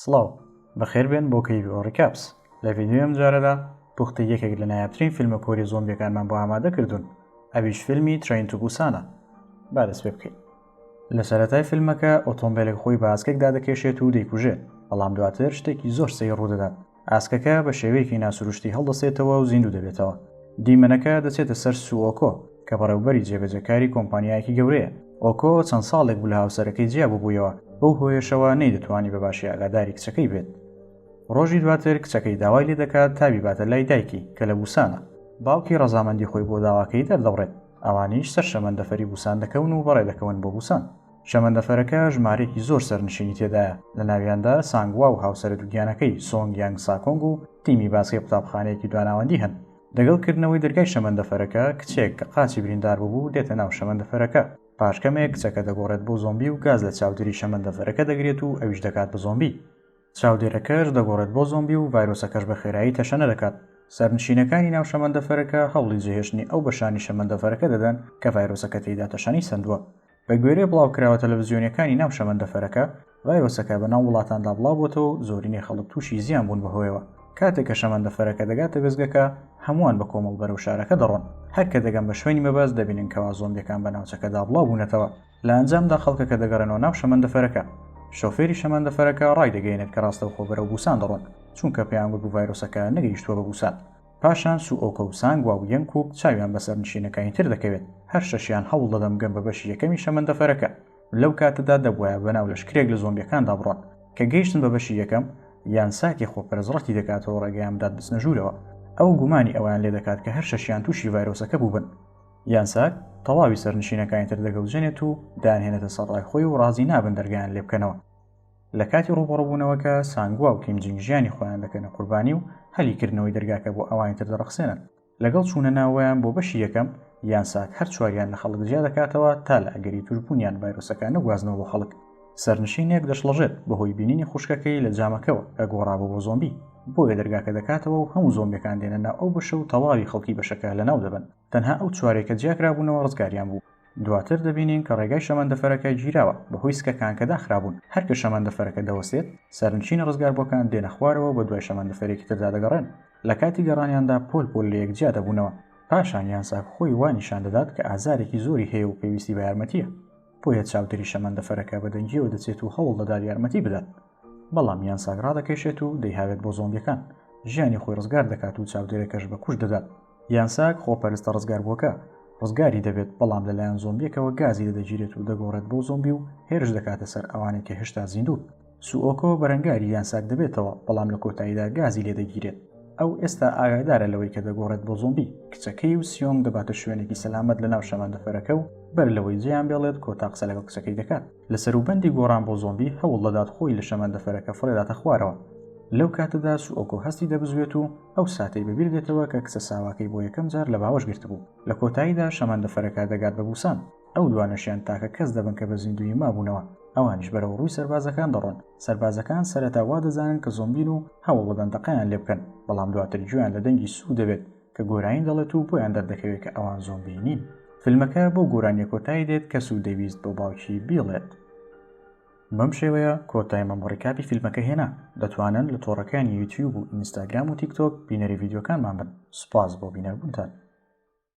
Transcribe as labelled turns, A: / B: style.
A: سڵاو بەخێر بێن بۆ کەیوی ئۆڕیکاپس لە ڤینیۆم جارەدا پوختی یەکێک لە نایابترین فیلمە کۆری زۆمبیەکانمان بۆ ئامادە کردوون ئەویش فیلمی ترین تو بوسانە با دەست پێ بکەین لە سەرەتای فیلمەکە ئۆتۆمبیلێک خۆی باسکێکدا دەکێشێت و دەیکوژێت بەڵام دواتر شتێکی زۆر سەی ڕوودەدات ئاسکەکە بە شێوەیەکی ناسروشتی هەڵدەسێتەوە و زیندوو دەبێتەوە دیمەنەکە دەچێتە سەر سووەکۆ کە بەڕێوبەری جێبەجەکاری کۆمپانیایەکی گەورەیە ئۆکۆ چەند ساڵێک بوو لە هاوسەرەکەی جیا ببوویەوە بەو هۆیەشەوە نەی دەتوانی بە باشی ئاگاداری کچەکەی بێت ڕۆژی دواتر کچەکەی داوای لێ دەکات تابی باتە لای دایکی کە لە بوسانە باوکی ڕەزامەندی خۆی بۆ داواکەی دەردەبڕێت ئەوانیش سەر شەمەندەفەری بوسان دەکەون و بەڕێ دەکەون بۆ بوسان شەمەندەفەرەکە ژمارەیەکی زۆر سەرنشینی تێدایە، لە ناویاندا سانگوا و هاوسەرە دووگیانەکەی سۆنگ یانگ ساکۆنگ و تیمی باسکەی قوتابخانەیەکی دواناوەندی هەن. دەگەڵ کردنەوەی دەرگای شەمەندەفەرەکە، کچێک کە قاچی بریندار بووبوو دێتە ناو شەمەندەفەرەکە. پاش کەمێک کچەکە دەگۆڕێت بۆ زۆمبی و گاز لە چاودێری شەمەندەفەرەکە دەگرێت و ئەویش دەکات بە زۆمبی. چاودێرەکەش دەگۆڕێت بۆ زۆمبی و ڤایرۆسەکەش بە خێرایی تەشەنە دەکات. سەرنشینەکانی ناو شەمەندەفەرەکە هەوڵی جێهێشتنی ئەو بەشانی شەمەندەفەرەکە دەدەن کە ڤایرۆسەکە تێیدا تەشەنەی سەندووە. بە گوێرەی بڵاوکراوە تەلەڤزیۆنیەکانی ناو شەمەندەفەرەکە، ڤایرۆسەکە بەناو وڵاتاندا بڵاوبۆتەوە و زۆرینەی خەڵک تووشی زیان بوون بەهۆیەوە، کاتێک کە شەمەندەفەرەکە دەگاتە وێستگەکە هەمووان بە کۆمەڵ بەرەو شارەکە دەڕۆن، هەر کە دەگەن بە شوێنی مەبەست دەبینن کەوا زۆمبیەکان بە ناوچەکەدا بڵاوبوونەتەوە، لە ئەنجامدا خەڵکەکە دەگەڕێنەوە ناو شەمەندەفەرەکە، شۆفێری شەمەندەفەرەکە ڕایدەگەیەنێت کە ڕاستەوخۆ بەرەو بوسان دەڕۆن، چونکە پێیانگوت بوو ڤایرۆسەکە نەگەیشتووە بە بوسان. پاشان سوئۆکە و سانگوا و یەنگکووک چاویان بەسەر نشینەکانی تر دەکەوێت، هەر شەشیان هەوڵ دەدەن بگەن بە بەشی یەکەمی شەمەندەفەرەکە، لەو کاتەدا دەبوایە بەناو لەشکرێک لە زۆمبیەکاندا بڕۆن، کە گەیشتن بە بەشی یەکەم، یانساکی خۆپەرست ڕەتی دەکاتەوە ڕێگەیان بدات بچنە ژوورەوە، ئەو گومانی ئەوەیان لێدەکات کە هەر شەشیان تووشی ڤایرۆسەکە بووبن. یانساک تەواوی سەرنشینەکانی تر دەگەوجێنێت و دەیانهێنێتە سەر ڕای خۆی و ڕازی نابن دەرگایان لێبکەنەوە، لە کاتی ڕووبەڕووبوونەوەکە سانگوا و کیم جینگ ژیانی خۆیان دەکەنە قوربانی و هەلی کردنەوەی دەرگاکە بۆ ئەوانی تر دەڕەخسێنن لەگەڵ چوونە ناوەیان بۆ بەشی یەکەم یان ساک هەر چواریان لە خەڵک جیا دەکاتەوە تا لە ئەگەری توشبوونیان ڤایرۆسەکە نەگوازنەوە بۆ خەڵک سەرنشینێک دەشڵەژێت بەهۆی بینینی خوشکەکەی لە جامەکەوە کە گۆڕابوو بۆ زۆمبی بۆیە دەرگاکە دەکاتەوە و هەموو زۆمبەکان دێنە ناو ئەو بەشە و تەواوی خەڵکی بەشەکە لە ناو دەبن تەنها ئەو چوارەی کە جیاکرابوونەوە ڕزگاریان بوو. دواتر دەبینین کە ڕێگای شەمەندەفەرەکە گیراوە بەهۆی سکەکان کە داخرابوون، هەر کە شەمەندەفەرەکە دەوەستێت سەرنشینە ڕزگاربووەکان دێنە خوارەوە و بەدوای شەمەندەفەرێکی تردا دەگەڕێن، لە کاتی گەڕانیاندا پۆل پۆل لەیەک جیا دەبوونەوە، پاشان یانساک خۆی وا نیشان دەدات کە ئازارێکی زۆری هەیە و پێویستی بە یارمەتییە، بۆیە چاودێری شەمەندەفەرەکە بە دەنگییەوە دەچێت و هەوڵ دەدات یارمەتی بدات. بەڵام یان ساگ ڕادەکێشێت و دەیهاوێت بۆ زۆمبیەکان ژیانی خۆی ڕزگار دەکات و چاودێرەکەش بە کوش دەدات یان ساگ خۆپەرستە ڕزگاربووەکە ڕزگاری دەبێت بەڵام لەلایەن زۆمبیەکەوە گازی لەدەگیرێت و دەگۆڕێت بۆ زۆمبی و هێرش دەکاتە سەر ئەوانەی کە هێشتا زیندوون سوئۆکۆ بەرەنگاری یان ساک دەبێتەوە بەڵام لە کۆتاییدا گازی لێ دەگیرێت ئەو ئێستا ئاگادارە لەوەی کە دەگۆڕێت بۆ زۆمبی کچەکەی و سیۆنگ دەباتە شوێنێکی سەلامەت لەناو شەمەندەفەرەکە و بەر لەوەی جێیان بێڵێت کۆتا قسە لەگەڵ کچەکەی دەکات لە سەروبەندی گۆڕان بۆ زۆمبی هەوڵ دەدات خۆی لە شەمەندەفەرەکە فڕێداتە خوارەوە لەو کاتەدا سوئۆکۆ هەستی دەبزوێت و ئەو ساتەی بەبیر دێتەوە کە کچە ساواکەی بۆ یەکەم جار لە باوەش گرتبوو لە کۆتاییدا شەمەندەفەرەکە دەگات بە بوسان ئەو دوانەشیان تاکە کەس دەبن کە بە زیندووی مابوونەوە ئەوانیش بەرەو ڕووی سەربازەکان دەڕۆن سەربازەکان سەرەتا وا دەزانن کە زۆمبین و هەوڵ دەدەن دەقیان لێ بکەن بەڵام دواتر گوێیان لە دەنگی سوو دەبێت کە گۆرانی دەڵێت و بۆیان دەردەکەوێت کە ئەوان زۆمبی نین فیلمەکە بۆ گۆرانیە کۆتایی دێت کەس و دەویست بۆ باوکی بیڵێت بەم شێوەیە کۆتای مەمڕیکاپی فیلمەکە هێنا دەتوانن لە تۆڕەکانی یوتیوب و ئینستاگرام و تیکتۆک بینەری یددیوەکانمان بن سپاس بۆ بینەربوونتان